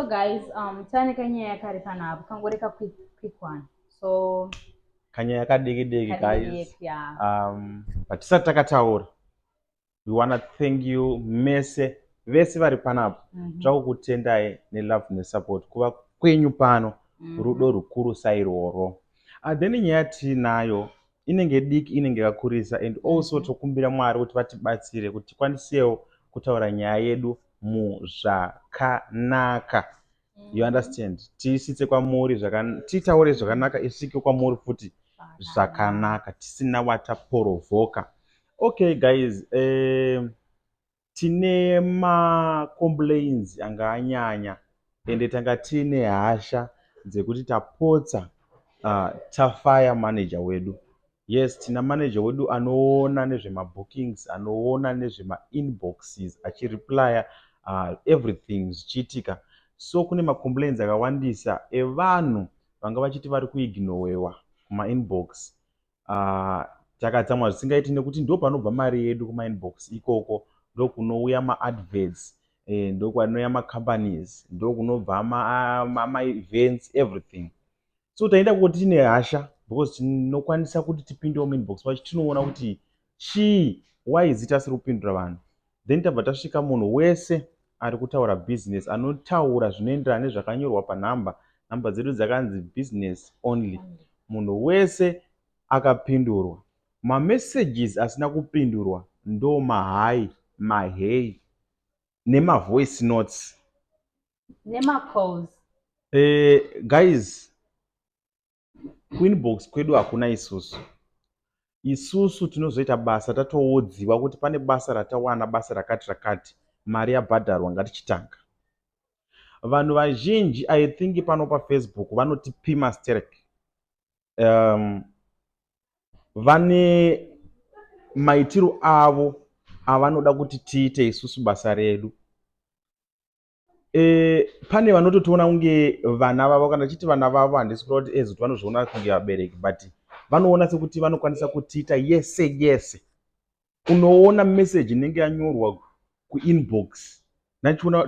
So guys, um, tane kanyaya kari pana apo kangori ka quick, quick one. So kanyaya kadiki diki guys. Yeah. Um, but tisati takataura. We want to thank you mese vese vari panapo. Mm -hmm. Tira kukutendai ne love ne support kuva kwenyu pano. Mm -hmm. Rudo rukuru sairoro. Uh, then nyaya tiinayo inenge diki inenge yakakurisa and also mm-hmm. tokumbira mwari kuti vatibatsire kuti tikwanisewo kutaura nyaya yedu muzvakanaka mm-hmm. you understand tiisitse kwamuri titaure zvakanaka isvike kwamuri futi zvakanaka tisina wataporovhoka okay guys um, tine ma complains anga anyanya ende tanga tiine hasha dzekuti tapotsa uh, tafaya manager wedu yes tina manager wedu anoona nezvemabookings anoona nezvemainboxes achireplya uh, everything zvichiitika so kune macomplains akawandisa evanhu vanga vachiti vari kuignowewa kumainbox uh, takatsamwa zvisingaiti nekuti ndo panobva mari yedu kumainbox ikoko ndokunouya maadverts eh, ndokwanouya macompanies ndokunobva maevents ma, ma everything so taenda kuti tine hasha because tinokwanisa kuti tipindewo mainbox pacho tinoona kuti chii why zita asiri kupindura vanhu then tabva tasvika munhu wese ari kutaura business anotaura zvinoenderana nezvakanyorwa panhamba nhamba dzedu dzakanzi business only munhu wese akapindurwa mamessages asina kupindurwa ndo mahai mahei nemavoice notes nemacalls eh, guys kuinbox kwedu hakuna isusu isusu tinozoita basa tatoodziwa kuti pane basa ratawana basa rakati rakati mari yabhadharwa ngatichitanga vanhu vazhinji i think pano pafacebook vanotipima sterek um, vane maitiro avo avanoda kuti tiite isusu basa redu Eh, pane vanototiona kunge vana vavo kana tichiti vana vavo handisi kureva kuti as kuti vanozviona kunge vabereki but vanoona sekuti vanokwanisa kutiita yese yese unoona message inenge yanyorwa kuinbox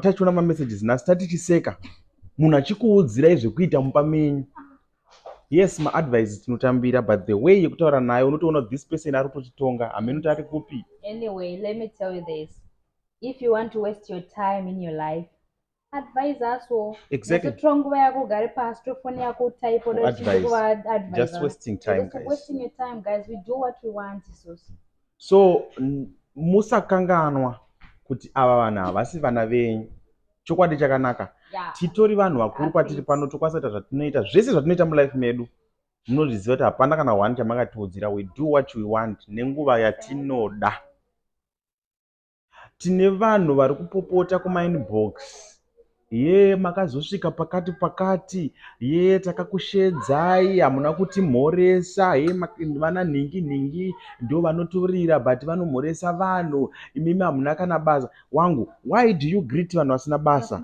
tachiona mamessages nhasi tatichiseka munhu achikuudzirai zvekuita mumba menyu yes maadvice tinotambira but the way yekutaura nayo unotoona this person ari kutochitonga hameno kuti ari kupi anyway let me tell you this if you want to waste your time in your life advise us wo exactly totora nguva yako ugare pasi tofoni yako type just wasting time guys. wasting your time guys we do what we want isosi so musakanganwa kuti ava vanhu havasi vana venyu chokwadi chakanaka yeah. titori vanhu vakuru kwatiri pano tokwanisa kuita zvatinoita zvese zvatinoita mulife medu munozviziva kuti hapana kana one chamakatiudzira we do what we want nenguva yatinoda yeah. Tine vanhu vari kupopota kumainbox yee makazosvika pakati pakati yee takakushedzai hamuna kutimhoresa hee vana nhingi nhingi ndo vanoturira but vanomhoresa vanhu imimi hamuna kana basa wangu why do you greet vanhu vasina basa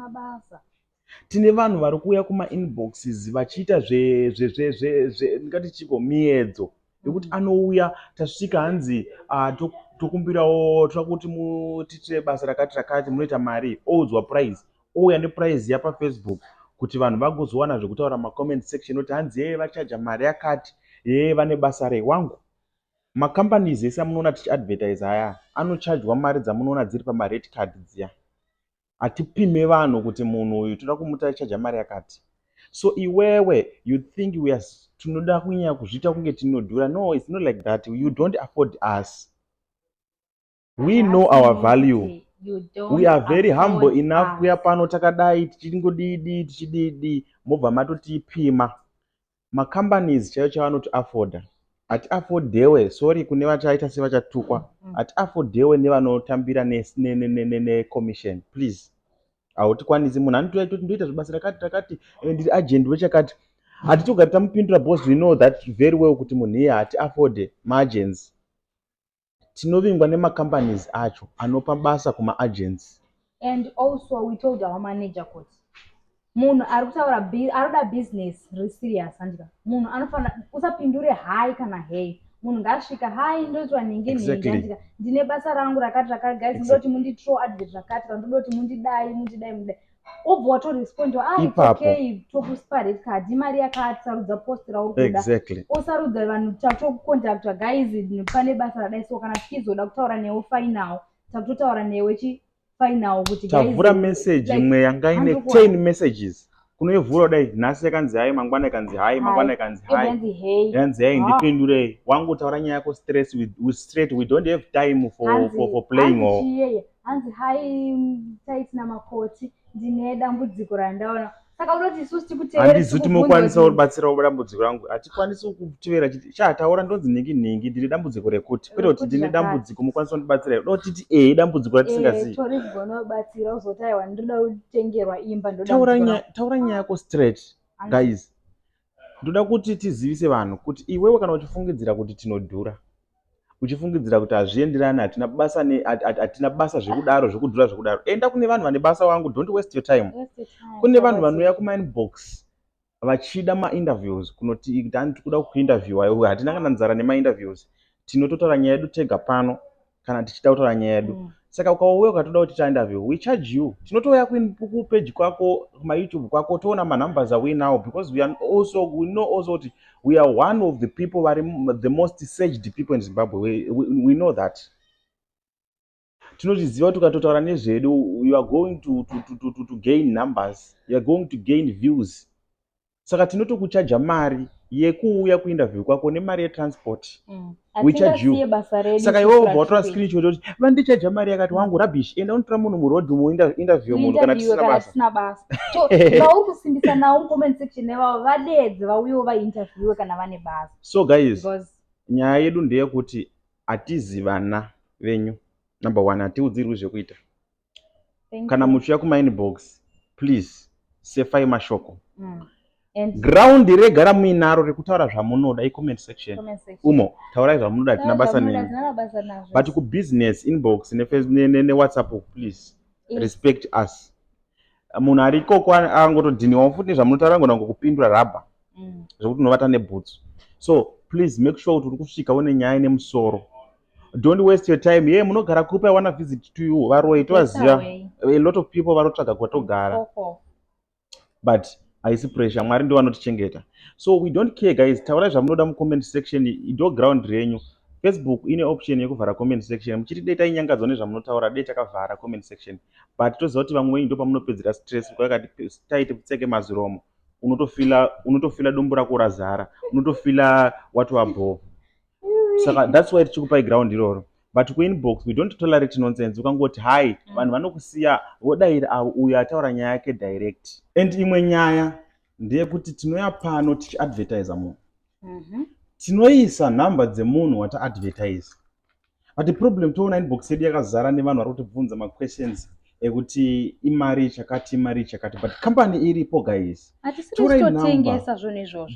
Tine vanhu vari kuuya kuma inboxes vachiita zve zve zve zve zve ndingati chiko miedzo yekuti anouya tasvika hanzi ah, to- tokumbirawo toda kuti mutiitire basa rakati rakati munoita mari oudzwa price ouya neprice yapa Facebook kuti vanhu vagozowana zvekutaura ma comment section oti hanzi yee vachaja mari yakati yee vane basa rei wangu macompanies ese amunoona tichi advertise aya anochajwa mari dzamunoona dziri pama red card dziya hatipime vanhu kuti munhu uyu toda kumutaichaja mari yakati so iwewe you think we are tinoda kunyanya kuzviita kunge tinodhura no its not like that you don't afford us we know our value we are very humble enough kuya pano takadai tichingodidi tichididi mobva matotipima Ma companies chaiwo chaiwo anoti afforder hati affordewe sorry kune vachaita sevachatukwa mm. hati affordewe nevanotambira necommission ne, ne, ne, please hautikwanisi munhu anoti ndoita zvibasa rakati rakati eh, ndiri agent wechakati hatitogari tamupindura bos we know that very well kuti munhu iye hati afforde maagency tinovingwa nema companies acho anopa basa kuma agency and also we told our manager kut munhu ari kutaura anoda business riri serious handika munhu anofanira usapindure hai kana hei munhu ngaasvika hai ndoitwa nhingi nhingi handika ndine basa rangu rakati rakati guys ndodoti munditro advert rakati kana ndodoti mundidai mundidai mundidai obva watorespondiwa ah, ipapo tokusipa red card imari yakati sarudza post rauri kuda exactly. osarudza vanhu tatokukontaktwa guys pane basa radai so kana tichizoda kutaura newe final takutotaura newe chi final kuti tavhura message imwe yanga ine 10 messages kunoivhura dai nhasi yakanzi hai mangwana ikanzi hai mangwana ikanzi hai yanzi hai ndipindurei wangu taura nyaya yako straight we don't have time for, for, for playing or hanzi hai taiti namakoti ndine dambudziko randaona saka unoti isusu tikuteerehandizi kuti mokwanisa kubatsira kuba dambudziko rangu hatikwanisi kutevera chiti chataura ndonzi nhingi nhingi ndine dambudziko rekuti kwete kuti ndine dambudziko mokwanisa kundibatsira here do titi ee dambudziko ratisingazivi eh, tori kugona kubatsira uzoti aiwa ndoda kutengerwa imba ndotaura nyaya yako straight guys Ndoda kuti tizivise vanhu kuti iwewe kana uchifungidzira kuti tinodhura, uchifungidzira kuti hazvienderani, hatina basa ne hatina basa zvekudaro zvekudhura zvekudaro, enda kune vanhu vane basa wangu, don't waste your time. Kune vanhu vanouya kuma inbox vachida ma interviews kunoti kuti tikuda kuku interviewer, hatina kana nzara nema interviews, tinototaura nyaya yedu tega pano. kana tichida kutaura nyaya yedu mm. saka ukauya ukatoda kuti ta interview we charge you tinotouya kupeji kwako kumayoutube kwako toona manumbers awe now because we are also we know also kuti we are one of the people vari the most searched people in zimbabwe we, we, we know that tinozviziva kuti ukatotaura nezvedu you are going to, to, to, to, to, to gain numbers you are going to gain views saka tinotokuchaja mari yekuuya kuinterview kwako nemari yetransport mm. saka iwe wobva watora screen shot yoti vandichaja mari yakati mm. wangu rubbish enda unotora munhu muroad umo interview munhu kana tisina basa so guys nyaya yedu ndeyekuti hatizivana venyu number one hatiudzirwi zvekuita kana muchiuya kumainbox please sefai mashoko mm. ground rega ramuinaro rekutaura zvamunoda icomment section umo taurai zvamunoda tina basa neni but kubusiness inbox newhatsapp ne, ne, ne please Is. respect us munhu ari ikoko angotodhiniwawo futi nezvamunotaura ngona ngokupindura rabha mm. zvekuti unovata nebhutsu so please make sure kuti uri kusvika une nyaya nemusoro don't waste your time ye munogara kupi i wanna visit to you varoyi tovaziva a lot of people vanotsvaga kwatogara but haisi pressure mwari ndiwo anotichengeta so we don't care guys taurai zvamunoda mucomment section ido ground renyu facebook ine option yekuvhara comment section muchiti dei tainyangadzwa nezvamunotaura dei takavhara comment section but toziva kuti vamwe venyu ndopamunopedzera stress kwakati taiti pfeke maziromo unotofila unotofila dumbu rako razara unotofila wati wabhoo saka that's why tichikupai ground iroro but kuinbox we don't tolerate nonsense ukangoti hai mm. vanhu vanokusiya vodaira avo uyo ataura nyaya yake direct and imwe nyaya ndeyekuti tinoya pano tichiadvertisa munhu mm-hmm. tinoisa nhamba dzemunhu wataadvertisa but the problem toona inbox yedu yakazara nevanhu vari kutibvunza maquestions ekuti imari chakati imari chakati but company iripo guys torai number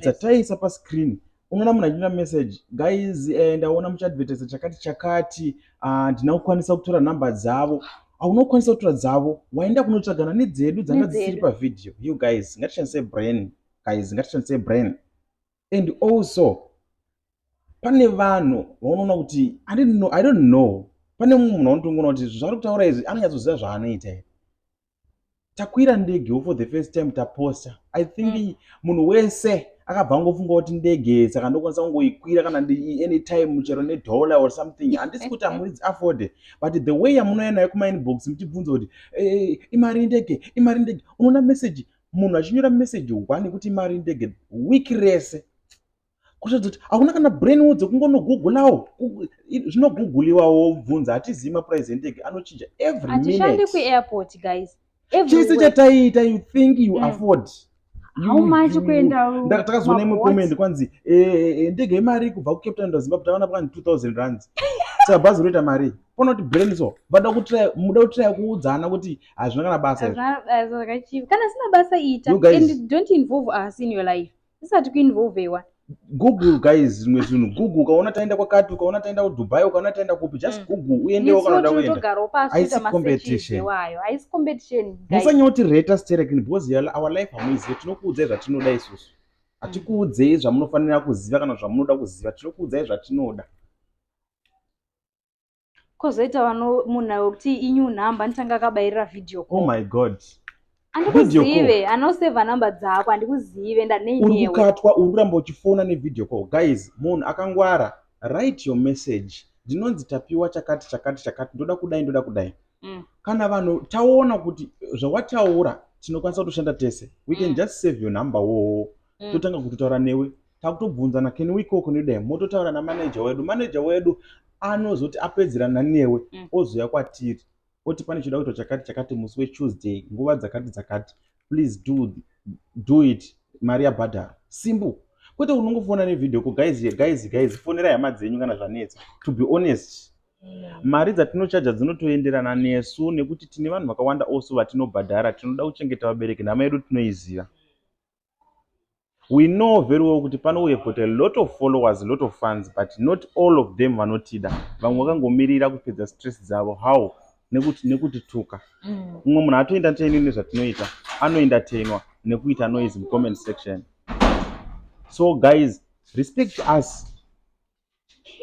dzataisa pascreen unoona munhu achinyora message guys eh, ndaona muchiadvertisa chakati chakati ah, handina uh, kukwanisa kutora nhamba dzavo haunokwanisa ah, kutora dzavo waenda kunotsvagana nedzedu dzanga dzisiri pavhidhiyo you guys ngatishandise brain guys ngatishandise brain and also pane vanhu vaunoona kuti i don't know, I don't know. pane mumwe munhu anotongoona kuti zvaari kutaura izvi anonyatsoziva zvaanoita here takwira ndege wo for the first time taposta i think mm. munhu wese akabva angofunga kuti ndege saka ndokwanisa kungoikwira kana anytime chero nedollar or something handisi kuti amuridzi afode but the way yamunouya nayo kumainbox muchibvunza kuti eh, imari indege imari indege unoona message munhu achinyora message one kuti imari indege week rese kuratidza kuti hauna kana brain wo dzekungonogugulawo zvinoguguliwa wobvunza hatizivi maprice enteg anochinja every minute kuairport guys chese chataiita you think you mm. afford takazoona imwe comment kwanzi eh, eh, eh, ndege yemari kubva kucape town ndazimbabwe takaona pakani 2000 rands saka bhazi roita mari pona kuti brain so vada muda kutiraya kuudzana kuti hazvina kana basa kana sina basa ita and don't involve us in your life zvisati kuinvolvewa google guys zvimwe zvinhu google ukaona taenda kwakati ukaona taenda kudubai ukaona taenda kupi just mm. google uendewo kana uda kuendamusanyoti reta sterekin because our life hamuizive tinokuudzai zvatinoda isusu mm. hatikuudzei zvamunofanira kuziva kana zvamunoda kuziva tinokuudzai zvatinoda kozoita vano munhu ayo kuti inew number anotanga akabairira video call oh my god andikuzive anoseva number dzako andikuzive ndaneinewe urikukatwa uri kuramba uchifona nevideo call guys munhu akangwara write your message ndinonzi tapiwa chakati chakati chakati ndoda kudai ndoda kudai mm. kana vanhu taona kuti zvawataura tinokwanisa kutoshanda tese we can mm. just save your number woo mm. totanga kutotaura newe takutobvunzana can we cook nodai mototaura namanager wedu manager wedu anozoti apedzerana newe mm. ozouya kwatiri oti pane choda kuitwa chakati chakati musi wetuesday nguva dzakati dzakati please do, do it mari yabhadhara simple kwete unongofona nevideo ko guys guys guys fonera hama dzenyu kana zvanetsa to be honest mari dzatinochaja dzinotoenderana nesu nekuti tine vanhu vakawanda also vatinobhadhara tinoda kuchengeta vabereki nhama yedu tinoiziva We know very well kuti pano we have got a lot of followers, a lot of fans but not all of them vanotida. Vamwe vakangomirira kupedza stress dzavo. How? Nekuti nekutituka. Mm. Umwe munhu atoenda teni nezvatinoita, anoenda tenwa nekuita noise mucomment section. So guys, respect us.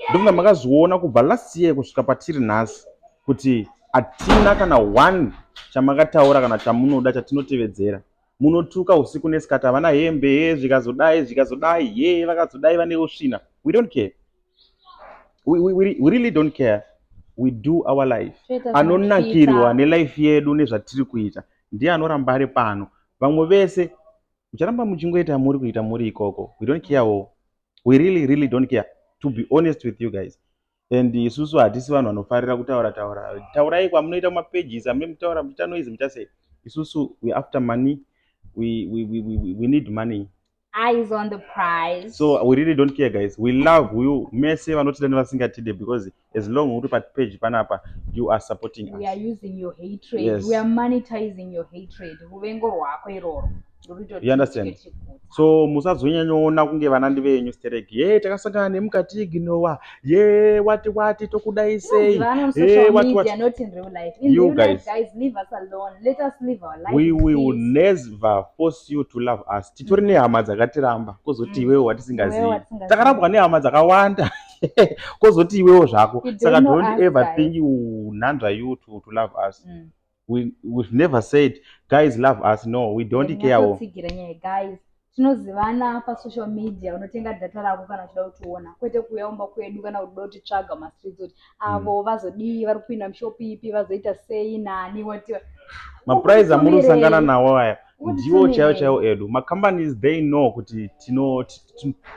ndofunga makazviona kubva last year kusvika patiri nhasi kuti hatina kana one chamakataura kana chamunoda chatinotevedzera munotuka usiku nesikati havana hembe he zvikazodai zvikazodai he vakazodai vane usvina we don't care we, we, we, we really don't care we do our life anonakirwa nelife yedu nezvatiri kuita ndiye anoramba ari pano vamwe vese mucharamba muchingoita muri kuita muri ikoko we don't care wo we really really don't care to be honest with you guys and isusu hatisi vanhu vanofarira kutaura taura taurai kwamunoita mapages amune mutaura muchita noise muchasei isusu we after money we, we, we, we, we need money eyes on the prize so we really don't care guys we love you mese vanotida nevasingatide because as long uri pa page panapa you are supporting us we are using your hatred yes. we are monetizing your hatred ruvengo rwako iroro you understand so musazonyanyoona kunge vanandi venyu sterek ye takasangana nemukati ignowa ye wati wati tokudai sei we will never force you to love us titori nehama dzakatiramba kozoti mm. iwewe watisingazivi takarambwa nehama dzakawanda kozoti iwewo zvako saka don't ever think you nhanzva you to, to love us mm. we, we've never said guys love us no we don't yeah, care wo guys tinozivana pasocial media unotenga data rako kana uchida kutiona kwete kuuya umba kwedu kana kuda kutitsvaga mastreets kuti avo mm. vazodii vari kupinda mushopi ipi vazoita sei nani watiwa mapurize amuri kusangana nawo aya ndiwo chaiwo chaiwo edu macompanies they know kuti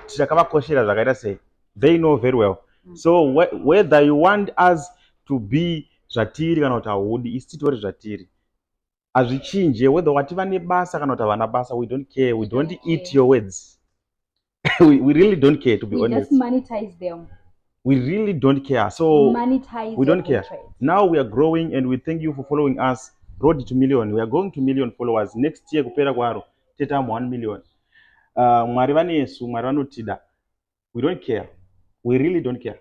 tichakavakoshera zvakaita sei they know very well mm. so whether you want us to be zvatiri kana kuti haudi isi titori zvatiri hazvichinje whether wati vane basa kana kuti havana basa we don't care we don't eat your words we, we really don't care to be we honest just monetize them we really don't care so monetize we don't care trade. now we are growing and we thank you for following us road to million we are going to million followers next year kupera kwaro tetamu 1 million uh, mwari vanesu mwari vanotida we don't care we really don't care